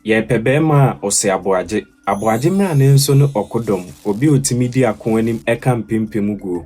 Yɛpɛ barima a ose aboagye. Aboagye mmra ne nso ne ɔko dɔm, obi a otumi di ako anim ka mpempem guo.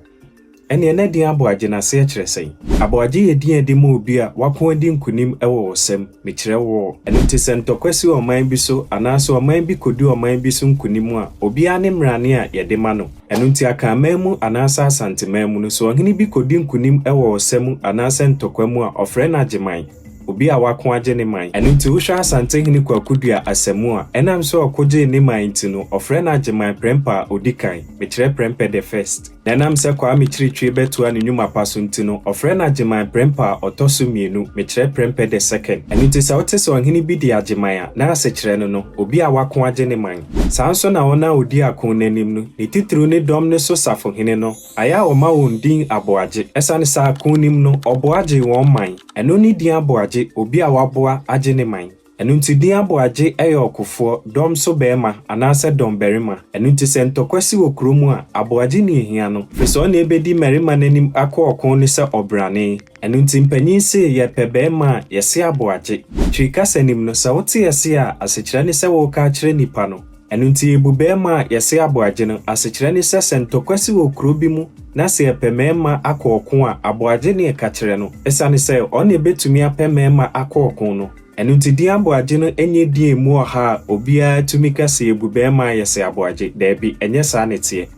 Ɛneɛ na din aboagye no aseɛ kyerɛ sɛn? Aboagye yɛ din a yɛde ma obi a wako adi nkunim wɔ ɔsɛm, mekyerɛ wɔɔ. Ɛno nti sɛ ntɔkwa si ɔman bi so anaa sɛ ɔman bi kɔdi ɔman bi so nkunim a, obiara ne mmarane a yɛde ma no. Ɛno nti Akanman mu anaa sɛ Asanteman mu no, sɛ ɔhene bi kɔdi nkunim wɔ ɔsa mu anaa sɛ ntɔkwa mu a, ɔfrɛ no Agyeman. obi a wako agye ne man. Ɛno nti wohwɛ Asantehene Kwaku Duah Assamu a, ɛnam sɛ ɔko gyee ne man nti no, ɔfrɛ no Agyeman Prɛmpɛ a ɔdi kan, mekyerɛ Prɛmpɛ the First. Na ɛnam sɛ Kwame Kyiritwiri bɛtoa ne nnwuma pa so nti no, ɔfrɛ no Agyeman Prɛmpɛ a ɔtɔ so mmienu, mekyerɛ Prɛmpɛ the Second. Ɛno nti sɛ wote sɛ ɔhene bi di Agyeman a, na asekyerɛ no no, obi a wako agye ne man. Saa nso na wɔn a ɔdi ako no anim no, ne titiriw ne dɔm no so safohene no, Ayɛ a wɔma wɔn din Aboagye. Ɛsiane saa ko nim no, ɔboa gyee wɔn man. Ɛno ne din Aboagye, obi a waboa agye ne man. Ɛno nti din Aboagye yɛ ɔkofoɔ, dɔm so barima, anaasɛ dɔm barima. Ɛno nti sɛ ntɔkwa si wɔ kuro mu a, Aboagye ni hia no, firi sɛ ɔne ɛbɛdi mmarima no anim ako ɔko no sɛ ɔbrane. Ɛno nti mpanyin se yɛrepɛ barima a, yɛse Aboagye. Twi kasa nim no, sɛ wote ɛse a, asekyerɛ ne sɛ woreka akyerɛ nipa no. Ɛno nti, bu bɛɛma a yɛse aboagye no. Asekyerɛ ne sɛ, sɛ ntɔkwa si wɔ kuro bi mu na sɛ yɛpɛ mɛɛma akɔ ɔko a, aboagye ne ɛka kyerɛ no. Esiane sɛ, ɔne bɛtumi apɛ mɛɛma akɔ ɔko no. Ɛno nti, din aboagye no nyɛ din a ɛmu ɔha a obiara tumi ka sɛ yɛbu bɛɛma a yɛse aboagye. Daabi, ɛnyɛ saa na ɛteɛ.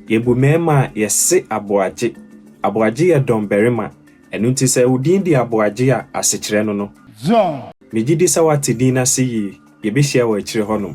Yɛbu mɛɛma a yɛse aboagye. Aboagye yɛ dɔm barima. Ɛno nti, sɛ wo din de aboagye a, asekyerɛ no no. John. Megye di sɛ woate din no ase yie. Yɛbɛhyia wɔ akyire hɔnom.